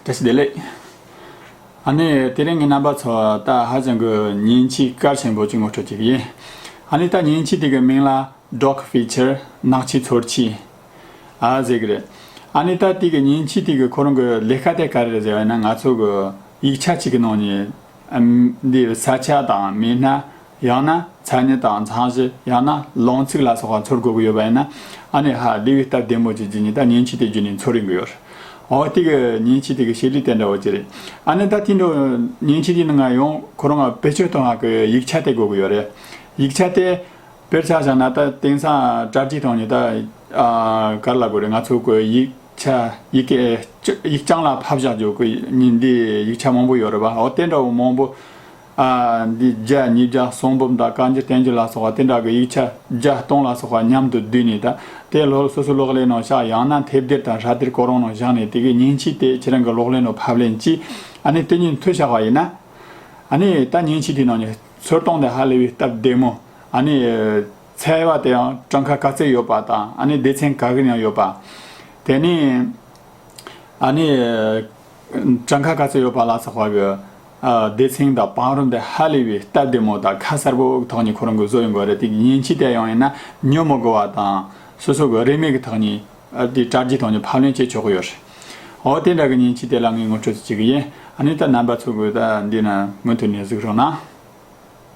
དེ་སུ་བདེ་ལེགས། ཨ་ནེ། དེ་རིང་ངས་རྣམ་པ་ཚོ་ད་ཧ་ཅང་གི་ཉིན་གཅིག་སྐར་ཆེན་པོ་གཅིག་ངོ་སྤྲོད་ཀྱི་ཡིན། ཨ་ནེ་ད་ཉིན་གཅིག་དེ་གི་མིང་ལ Dog Feature ནག་ཆུ་ཚོར་ཆུ། ཨ་ཟེར་གི་རེད། ཨ་ནེ་ད་དེ་གི་ཉིན་གཅིག་དེ་གི་ཁོ་རང་གི་ལས་ཀ་དེ་ག་རེ་རེད་ཟེར་བ་ན་ང་ཚོ་གི་ཡིག་ཆ་གཅིག་གི་ནང་ནས་འདིར་ས་ཆ་དང་མི་སྣ་ཡང་ན་མཚན་ཉིད་དང་མཚང་གཞི་ཡང་ན་ལོང་ཚིག་ལ་སོགས་པ་འཚོལ་དགོས་ཀྱི་ཡོད་པ་ཡིན་ན་ཨ་ནེ་ཧ་ལི་བའི་སྟབས་བདེ་མོ་ཅི་བགྱི་ཉི་ད་ཉིན་ཕྱི་དེ་བརྒྱུད་ནས་འཚོལ་རིན་གྱི་ཡོད། འོ་དེ་གི་ཉིན་ཕྱི་དེ་གི་ཤེས་རིག་དེ་འདྲ་བོ་ཅི་རེད། ཨ་ནེ་ད་དེ་འདྲ་བོ་ཉིན་ཕྱི་དེ་ནང་ང་ཡང་ཁོ་རང་བེད་སྤྱོད་གཏོང་ཡག་གི་ཡིག་ཆ་དེ་དགོས་ཀྱི་ཡོད་རེད། ཡིག་ཆ་དེ་བེད་ཆ་བཞག་ན་ད་དེང་སང་བཀྲ་བརྒྱད་དང་ཉི་ད་ག་རེ་ལ་དགོས་རེད་ང་ཚོ་གི་ཡིག་ཆ་ཡིག་གི་ཡིག་རྐྱང་ལ་ཕབ་བཞག་རྒྱུ་གི་ཉིན་དེའི་ཡིག་ཆ་མང་པོ་ཡོད་རེད་པ་འོ་དེ་འདྲ་བོ་མང་པོ་འདི་བརྒྱ་ཉིས་བརྒྱ་གསུང་འབུམ་དང་བཀའ་འགྱུར་བསྟན་འགྱུར་ལ་སོགས་པ་དེ་འདྲ་གི་ཡིག་ཆ་བརྒྱ་སྟོང་ལ་སོགས་པ་མཉམ་དུ་བསྡུས་ནས་དེ་ལྷོར་སོ་སོའི་གློག་ཀླད་ནང་བཞག་ཡང་ན་དེབ་སྡེར་དང་ཧྲ་གཏེར་སྐོར་རོང་ནང་བཞག་ནས་དེ་གའི་ཉིན་ཕྱིས་དེ་ཁྱེད་རང་གི་གློག་ཀླད་ནང་ཕབ་ལེན་གྱིས་ཨ་ནི་དེ་ཉིན་མཐུད་བཞག་པ་ཡིན་ན། ཨ་ནི་ད་ཉིན་ཕྱིས་དེའི་ནང་ནས་ཚོད་གཏོང་དེ་ཧ་ལས་པའི་སྟབས་བདེ་མོ། ཨ་ནི། ཚལ་བ་དེ་ཡང་བྲང་ཁ་ག་ཚད་ཡོད་པ་དང་ཨ་ནི་སྡེ་ཚན་ག་གིར་ཡང་ཡོད་པ། དེ་ནས། ཨ་ནི། བྲང་ཁ་ག་ཚོད་ཡོད་པ་ལ་སོགས་པའི་སྡེ་ཚན་དང་བང་རིམ་དེ་ཧ་ལས་པའི་སྟབས་བདེ་མོ་དང་ཁ་གསལ་པོ་དག་ནས་ཁོ་རང་གི་བཟོ་ཡི་འགོ་རེད་དེ་ཉིན་ཕྱི་དེ་ཡང་ཡིན་ན་ཉོན་མོ་དགོས་པ་དང། སོ་སོ་གི་རིན་མེད་ཀྱི་ཐོག་ནས་དེ་དྲ་རྒྱའི་ཐོག་ནས་ཕབ་ལེན་བྱེད་ཆོག་གི་ཡོད་རེད། འོ་དེ་འདྲ་གི་ཉིན་ཕྱི་དེ་ལ་ངས་ངོ་སྤྲོད་བྱེད་ཀྱི་ཡིན། ཨ་ནི་ད་རྣམ་པ་ཚོ་གི་ད་འདི་ན་མུ་མཐུད་ནས་གཟིགས་རོགས་གནང།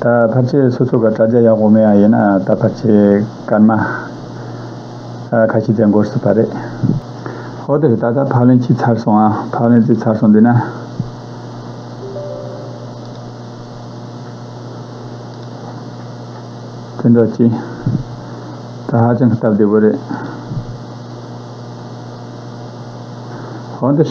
ད་ཕར་ཆེར་སོ་སོ་ག་དྲ་རྒྱ་ཡག་པོ་མེད་ཡ་ཡིན་ན་ད་ཕར་ཆེར་སྐར་མ་ཁ་ཤི་ཙེ་འགོར་སྲིད་པ་རེད། ཧོ་དེར་ད་ད་ཕག་ལེན་ཅི་ཚར་སོང་ཨ་ཕག་ལེན་ཙི་ཚར་སོང་འདུག་ན། བཙན་འབྲོག་སྤྱི། ད་ཧ་ཅང་སྟབས་བདེ་བོ་རེད། ཧོ་འདིར།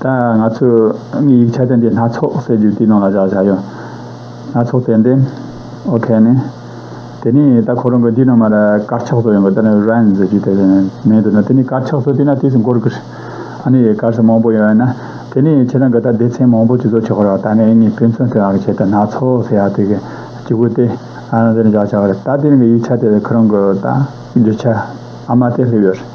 ད་ང་ཚོས་དངོས་ཡིག་ཆ་དེ་འདྲའི་སྣ་ཚོགས་ཟེར་རྒྱུ་དེའི་ནང་ལ་བཞག་བཞག་ཡོད། སྣ་ཚོགས་ཏན་ཏན། okay ནི། དེ་ནི་ད་ཁོ་རང་གི་འདི་ནང་མ་རེད་དཀར་ཆག་སོགས་ཡོང་གི་ད་ནི་རན་ཟེར་རྒྱུ་དེ་རེད་མེད་འདུག་ན་དེ་ནི་དཀར་ཆག་སོགས་དེ་ན་དེ་སུ་འགོ་རུ་ཀི་རེད། ཨ་ནི་དཀར་ས་མང་པོ་ཡོད་ན་དེ་ནི་ཁྱེད་རང་གི་ད་སྡེ་ཚན་མང་པོ་ཅིག་བཟོ་ཆོག་གི་རེད་ད་ངའི་ངའི་དཔེ་མཚོན་དེ་རང་གི་ཆེད་དུ་སྣ་ཚོགས་ཟེར་ཡག་དེ་གི་སྤྱི་བོ་སྟེ། ཨ་རང་དེ་ནི་བཞག་བཞག་རེད་ད་དེ་རང་གི་ཡིག་ཆ་དེ་ཁོ་རང་གི་ད་རྒྱུ་ཆ་ཨ་མ་དེ་སླེབས་ཡོད་རེད།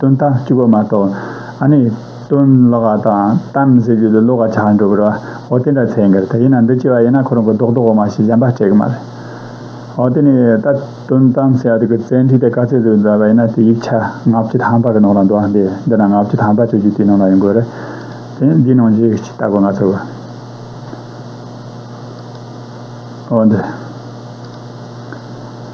དོན་དག་གཅིག་པོ་མ་གཏོགས། ཨ་ནི། དོན་ལོག་ཀ་དང་གཏམ་ཟེར་རྒྱུ་ལས་ལོག་ཀ་ཆགས་འགྲོ་གི་རོ། འོ་དེ་འདྲ་ཚད་འགལ་ད་ཡིན་ན་འདི་སྐྱེ་བ་ཡིན་ན་ཁོ་རང་གི་རྡོག་རྡོག་འོ་མ་ཞིག་གཞན་པ་སྤྲད་གི་མ་རེད། འོ་དེ་ནི་ད་དོན་གཏམ་ཟེར་བ་དེ་གི་བཙན་ཁྲིད་དེ་ག་ཚད་དུ་མཛད་པ་ཡིན་ན་དེ་ཡིག་ཆ་ལྔ་བཅུ་ཐམ་པ་གི་ནང་ལ་འདུག་ཨ་འདི་འདི་ན་ལྔ་བཅུ་ཐམ་པ་བཅོས་རྒྱུ་དེ་ནང་ལ་ཡོད་དགོས་རེད། དེ་འདི་ནང་བཞིན་གཅིག་བལྟ་དགོས་ང་ཚོ་གི། འོ་འདི།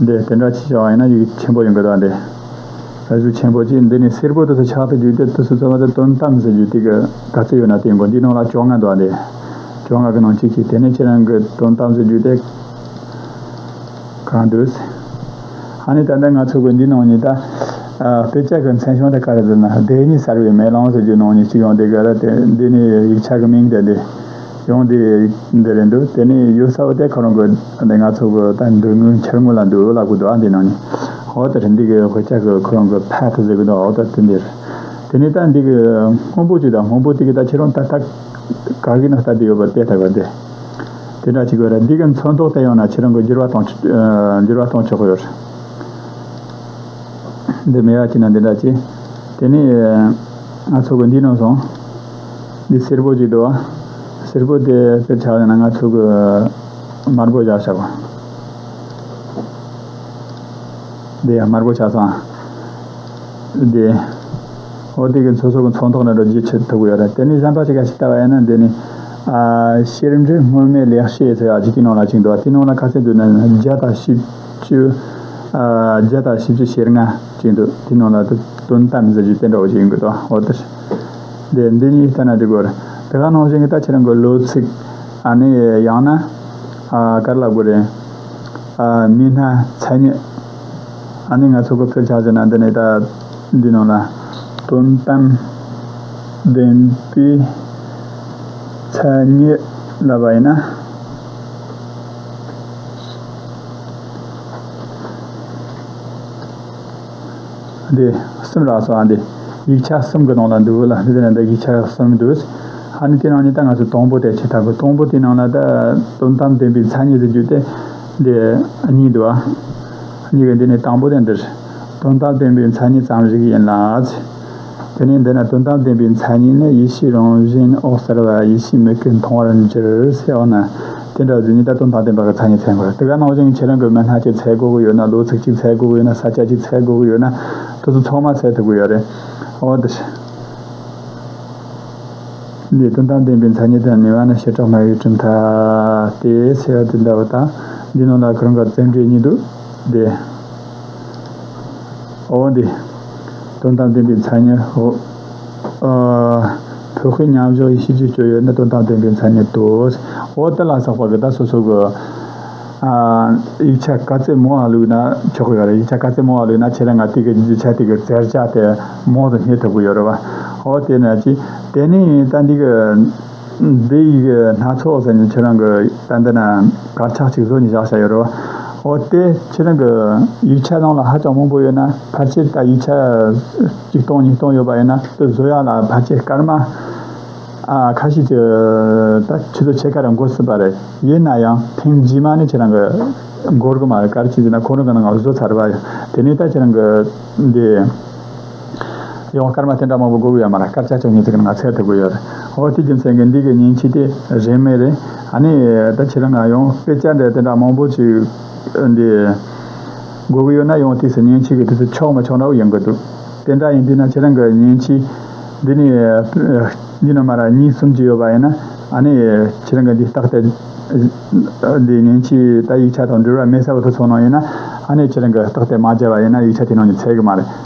འདི་དེ་འདྲ་ཅི་བྱ་བ་ཡིན་ན་ཡིག་ཆེན་པོ་ཡིན་དགོས་དོགས་འདི། ཟུར་ཆེན་པོ་གཅིག་འདི་ནི་སེར་པོ་དུ་སུ་ཆགས་ཏེ་རྒྱུག་སྟེ་དུ་སུ་རྩོལ་བ་དེ་དོན་དམ་ཟེར་རྒྱུ་དེ་གི་ག་ཚོད་ཡོད་ན་དེའི་མགོ་འདིའི་ནང་ལ་བཅོ་ལྔ་འདུག་འདི། བཅོ་ལྔ་གི་ནང་གཅིག་གཅིག་དེ་ནས་ཁྱེད་རང་གི་དོན་དམ་ཟེར་རྒྱུ་དེ་གང་འདུག། ཧ་ནི་ད་ལྟ་ང་ཚོ་གི་འདིའི་ནང་ཉིད་ད། དཔེ་ཆ་གི་མཚན་གཞུང་དེ་ག་རེ་བསྡུར་ན་བདེ་ཉི་གསར་བའི་མེ་ལོང་ཟེར་རྒྱུའི་ནང་ཉིད་གཅིག་ཡོང་དེ་ག་རེ་དེ་འདི་ནི་ཡིག་ཆ་གི་མིང་དེ་འདི། ཡོང་དེ་འདི་རེད་འདུག་དེ་ནས་ཡུལ་ས་བོ་དེ་ག་རང་གི་འདི་ང་ཚོ་གི་ད་འདུག་དངུལ་འཁྱེར་དངུལ་ལ་འདུག་འོ་ལ་གོ་འདུག་ཨ་འདི་ནང་ནས་འོ་ད་རེ་འདི་གི་གོ་ཆ་གི་ཁོ་རང་གི་ཕ་ཐུག་ཟེར་གི་འདུག་འོ་ད་དེ་འདི་རེད་དེ་ནས་ད་འདི་གི་དངོས་པོ་ཅིག་དང་དངོས་པོ་དེ་གི་ད་ཁྱེད་རང་ད་ད་ག་གི་ནང་ད་འདི་ཡོད་པ་དེ་ད་ག་འདི་དེ་འདྲ་ཅིག་གི་རེད་འདི་གི་མཚོན་ཐོག་ད་ཡོང་ན་ཁྱེད་རང་གི་འགྱུར་བ་གཏོང་འགྱུར་བ་གཏོང་ཆོག་གི་ཡོད་རེད་འདི་མེད་བ་ཅིག་ན་འདི་འདྲ་ཅིག་དེ་ནས་ང་ཚོ་གི་འདི་ནང་སོང། འདི་སེར་པོ་ཅིག་འདུག་ཨ། སེར་པོ་དེ་སེར་ཆགས་ཡོང་ན་ང་ཚོ་གི། དམར་པོ་བཞག་ཆགས། འདི་ཡང་དམར་པོ་ཆགས་སོང་ཨ། འདི། ཨོ་དེ་གི་མཚོ་སོག་གི་མཚོ་མཐོང་ན་འགྲོ་རྒྱུ་ཆེ་ཐུག་གི་ཡོད་རེད་དེ་ནི་གཞན་པ་ཞིག་ག་ཞིག་ལྟ་བ་ཡིན་ན་འདི་ནི། གཤེར་འབྲི་སྔོན་མའི་ལེགས་བཤད་ཟེར་བ་ཅིག་གི་ནང་ལ་ཅིག་འདུག་ཨ་དེའི་ནང་ལ་ཁ་གསལ་དུ་ནི་བརྒྱ་དང་བཞི་བཅུ། བརྒྱ་དང་བཞི་བཅུ་ཞེར་ལྔ་ཅིག་འདུག་དེའི་ནང་ལ་དོན་དམ་ཟེར་རྒྱུའི་བསྟན་གྲོགས་ཅིག་ཡོང་གི་འདུག་ཨ་ཨོ་དེ། འདི་གཉིས་བསྟན་ན་འགྲིག་གོ། དེ་ག་ནང་བཞིན་གྱི་ལྟ་ཕྱིར་གྱི་ལོ་ཚིགས། ནི་ཡང་ན། ག་རེ་ལབ་དགོས་རེད། མི་སྣ་མཚན་ཉིད། ནི་ང་ཚོས་གོ་ཕེར་བྱ་ཟེར་ན་འདི་ནི་ད་འདི་ནང་ལ། དོན་དམ། བདེན་པའི། མཚན་ཉིད་ལབ་པ་ཡིན་ན། འདི། སེམས་རགས་སོ་ཨ་འདི། ཡིག་ཆ་གསུམ་གི་ནང་ལ་འདུག་ལ་འདི་ནི་འདི་ཡིག་ཆ་གསུམ་འདུག། ཨ་ནི་དེ་རང་ཉིད་ད་ང་ཚོས་དང་པོ་དེ་བྱེད་ཐབས་གོ་དང་པོ་དེའི་ནང་ལ་ད་དོན་དམ་བདེན་པའི་མཚན་ཉིད་དུ་གྱུར་ཏེ། འདི་གཉིས་འདུག་ཨ། གཉིས་ཀྱི་འདི་ནི་དང་པོ་དེ་འདིར། དོན་དམ་བདེན་པའི་མཚན་ཉིད་ཙམ་ཞིག་ཡིན་ལ། དེ་ནས་འདི་ན་དོན་དམ་བདེན་པའི་མཚན་ཉིད་ནི་ཡེ་ཤེས་རང་བཞིན་འོད་གསལ་བ་ཡེ་ཤེས་མིག་གིས་མཐོང་བར་འགྱུར་ཞེས་འོ་ན། དེ་འདྲ་བཞིན་ཉིད་ལྟ་དོན་དམ་བདེན་པ་གི་མཚན་ཉིད་ཚན་དགུ་དེ་ག་ནང་བཞིན་ངས་ཁྱེད་རང་གི་མི་སྣ་གཅིག་ཚད་དགུ་གི་ཡོད་ན་ལོ་ཚིགས་གཅིག་ཚད་དགུ་གི་ཡོད་ན་ས་སྐྱ་གཅིག་ཚད་དགུ་གི་ཡོད་ན་དུས་ཚོད་ཚང་མ་ཚད་དགུ་གི་ཡོད་རེད། འོ་དེ་འདྲའི་དོན་དམ་བདེན་པའི་མཚན་ཉིད་དང་ནུས་བ་ནི་བྱེ་བྲག་སྨྲ་བའི་གྲུབ་མཐའ་སྟེ་ཞེས་པ་དེ་འདྲ་བ་དང། འདིའི་ནང་ལ་གང་ག་ཚད་འབྲས་གཉིས་འདུག་སྟེ། འོ་འདི། དོན་དམ་བདེན་པའི་མཚན་ཉིད། འོ། བོད་ཁུལ་མཉམ་བཞག་ཡེ་ཤེས་ཀྱི་སྤྱོད་ཡུལ་ནི་དོན་དམ་བདེན་པའི་མཚན་ཉིད་དོ། འོ་དེ་ལ་སོགས་པ་གི་ད་སོ་སོ་གི། ཡིག་ཆ་ག་ཚད་མང་བ་ལུགས་ན་ཆོག་གི་ཡོད་རེད་ཡིག་ཆ་ག་ཚད་མང་བ་ལུགས་ན་ཆེད་ལས་ང་ཏིག་གི་ཡིག་ཆ་ཏིག་གི་བཙལ་བྱ་དེ་མང་དུ་རྙེད་ཐུབ་ཀྱི་ཡོད་རེད་བ། འོ་དེ་ནས་ཅི། དེ་ནས་ད་འདི་གི། འདི་ཡི་གི་སྣ་ཚོགས་ཟེར་ནས་ཁྱེད་རང་གི་དཔེ་འདི་ན་དཀར་ཆག་ཅིག་བཟོ་ནས་བཞག་བྱ་ཡོད་རོ། འོ་དེ་ཁྱེད་རང་གི་ཡིག་ཆ་ནང་ལ་ཧ་ཅང་མང་པོ་ཡོད་ན་ཕར་ཆེར་ད་ཡིག་ཆ་གཅིག་སྟོང་གཉིས་སྟོང་ཡོད་པ་ཡིན་ན་དེ་བཟོ་ཡག་ལ་ཕར་ཆེར་སྐར་མ་ཁ་ཤས་ཀྱི་ད་ཁྱེད་ཚོ་ཕྱེད་ཀ་རེ་འགོ་སྲིད་པ་རེད་ཡིན་ན་ཡང་ཐེངས་རྗེས་མ་ནས་ཁྱེད་རང་གི་འགོར་གི་མ་རེད་སྐར་ཆིག་དེ་ན་ཁོང་རང་གི་ནང་ལ་བཟོ་ཚར་བ་ཡིན་དེ་ནས་ད་ཁྱེད་རང་གི་འདི། ཡོང་བ་སྐར་མ་དེ་འདྲ་མང་པོ་སྒུག་ཡོད་མ་རེད་སྐར་ཆ་བཅོ་ཉི་ཚེ་གི་ནང་ཚད་དེ་སྒུག་ཡོད་རེད་འོ་དེ་རྒྱུ་མཚན་གྱི་འདི་གི་ཉིན་ཕྱི་དེ་རེད་མེད་རེད་ཨ་ནི་ད་ཁྱེད་རང་ང་ཡོང་དཔེ་བཅར་འདྲ་དེ་འདྲ་མང་པོ་བྱེད་འདི་སྒུག་གི་ཡོད་ན་ཡོང་དུས་སུ་ཉིན་ཕྱི་གི་དུས་སུ་ཆོག་མ་ཆོག་འདྲ་བོ་ཡོང་གི་འདུག་དེ་འདྲ་ཡིན་དུས་ན་ཁྱེད་རང་གི་ཉིན་ཕྱི་འདི་ནི་གཉིས་ནས་མ་རེད་གཉིས་གསུམ་བྱས་ཡོད་པ་ཡིན་ན་ཨ་ནི་ཁྱེད་རང་གི་འདི་རྟགས་དེ་འདི་ཉིན་ཕྱི་ད་ཡིག་ཆ་དང་འབྲེལ་བ་མེད་ས་བོ་དེ་ཚོ་ནང་ཡིན་ན་ཨ་ནི་ཁྱེད་རང་གི་རྟགས་དེ་མ་བྱས་པ་ཡིན་ན་ཡིག་ཆ་དེ་ནང་ནས་ཚད་གི་མ་རེད།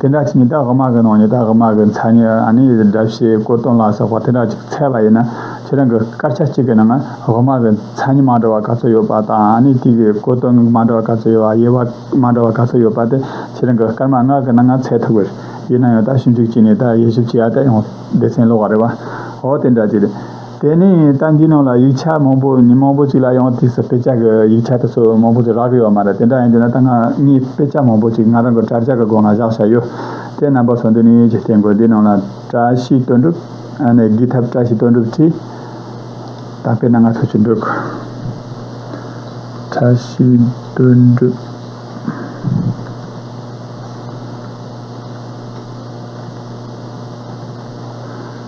དེ་འདྲ་ཞིག་ཉི་ལྟག་དམག་གི་ནང་ཉི་ལྟག་དམག་གི་མཚན་ཉིད་ཨ་ནེ་ཡི་དགྲ་བྱེད་དཀོར་སྟོང་ལ་སོགས་པ་དེ་འདྲ་ཅིག་འཚལ་བ་ཡིན་ན་ཁྱེད་རང་གི་སྐར་ཆ་གཅིག་གི་ནང་དམག་གི་མཚན་ཉིད་མ་འདྲ་བ་ག་ཚོད་ཡོད་པ་དང་ཨ་ནེ་ཏིག་གི་དཀོར་སྟོང་མ་འདྲ་བ་ག་ཚོད་ཡོད་པ་དབྱེ་བ་མ་འདྲ་བ་ག་ཚོད་ཡོད་པ་དེ་ཁྱེད་རང་གི་སྐར་མ་སྔར་གི་ནང་འཚལ་ཐུབ་ཀྱི་ཡིན་ན་ཡང་དག་ཞིབ་འཇུག་བྱས་ནས་དག་དབྱེ་ཞིབ་བྱས་ཡ་དག་ཡང་སྡེ་ཚན་ཀློག་པ་རེད་བ། འོ་དེ་འདྲ་ཅིག་རེད། དེ་ནས་ད་འདིའི་ནང་ལ་ཡིག་ཆ་མང་པོ་ཉིན་མང་པོ་ཅིག་ལ་ཡང་དེ་སོ་དཔེ་ཆ་གི་ཡིག་ཆ་དེ་ཚོ་མང་པོ་ཅིག་རག་གི་ཡོད་མ་རེད་དེ་འདྲ་ཡིན་དུས་ན་ད་ང་ངའི་དཔེ་ཆ་མང་པོ་ཅིག་ང་རང་གི་དྲ་རྒྱ་གི་སྒོ་ང་བཞག་བཞག་ཡོད། དེ་རྣམ་པ་ཚོ་འདི་ནས་ཀྱི་སྟེང་གི་འདིའི་ནང་ལ་བཀྲ་ཤིས་དོན་འགྲུབ། ཨ་ནེ་གི་ཐབས་བཀྲ་ཤིས་དོན་འགྲུབ་ཀྱིས་ད་དཔེ་ན་ང་ཚོ་ཅི་འདུག་བཀྲ་ཤིས་དོན་འགྲུབ།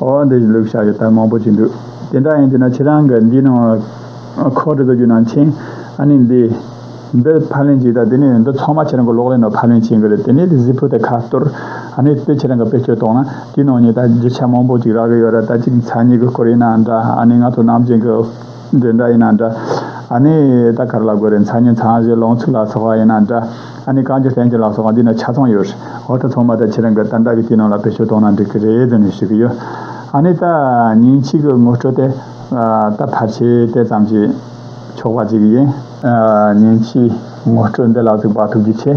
ཨོ་འདི་བཞིན་ལུགས་བྱ་ཡི་དྭགས་མང་པོ་ཅིག་འདུག་དེ་འདྲ་ཡིན་དུས་ན་ཁྱེད་རང་གི་འདིའི་ནང་ལ་ཁོག་འདྲི་དགོས་རྒྱུ་ནང་ཆེན་ཨ་ནི་འདི་འདི་ཕ་ལེན་བྱེད་དང་དེ་ནས་འདི་ཚང་མ་ཁྱེད་རང་གི་ལོག་ལེན་ནང་ཕ་ལེན་བྱེད་དགོས་རེད་དེ་ནས་དེ་གཟིགས་ཕུ་དེ་ཁ་གཏོར་ཨ་ནི་དེ་ཁྱེད་རང་གི་དཔེ་སྐྱོ་གཏོང་ན་དེའི་ནང་ཉིད་ད་བརྗོད་བྱ་མང་པོ་ཅིག་རག་གི་ཡོད་རེད་ད་ཅིག་ཚ་ཉིད་ཀྱི་སྐོར་ཡིན་ནའང་འདྲ་ཨ་ནི་ང་ཚོ་ནམ་རྒྱུན་གྱི། འདྲེ་འདྲ་ཡིན་ན་འདྲ། ཨ་ནི། ད་གར་ལ་དགོས་རེད་མཚར་ཉིན་ཚང་གཞས་ལོངས་ཚུགས་ལ་སོགས་བ་ཡིན་ན་འདྲ། ཨ་ནི་གངས་ཀྱི་ལྷན་སྐྱེས་ལ་སོགས་བ་འདི་ནས་ཆ་ཚང་ཡོད་རེད། འོ་ད་ཚང་མ་ད་ཁྱེད་རང་གི་ཏར་འདྲ་གི་སྐྱིད་སྣང་ལ་བེད་སྤྱོད་གཏོང་ན་འགྲིག་གི་རེད་ཟེར་ནས་ཞུ་གི་ཡོད། ཨ་ནི། ད་ཉིན་གཅིག་གི་ངོ་སྤྲོད་དེ། ད་ཕར་ཆེད་གཏད་ཙམ་གྱིས་ཆོག་པ་གཅིག་ཡིན། ཉིན་གཅིག་ངོ་སྤྲོད་འདི་ལ་གཟིགས་པ་ཐུགས་རྗེ་ཆེ།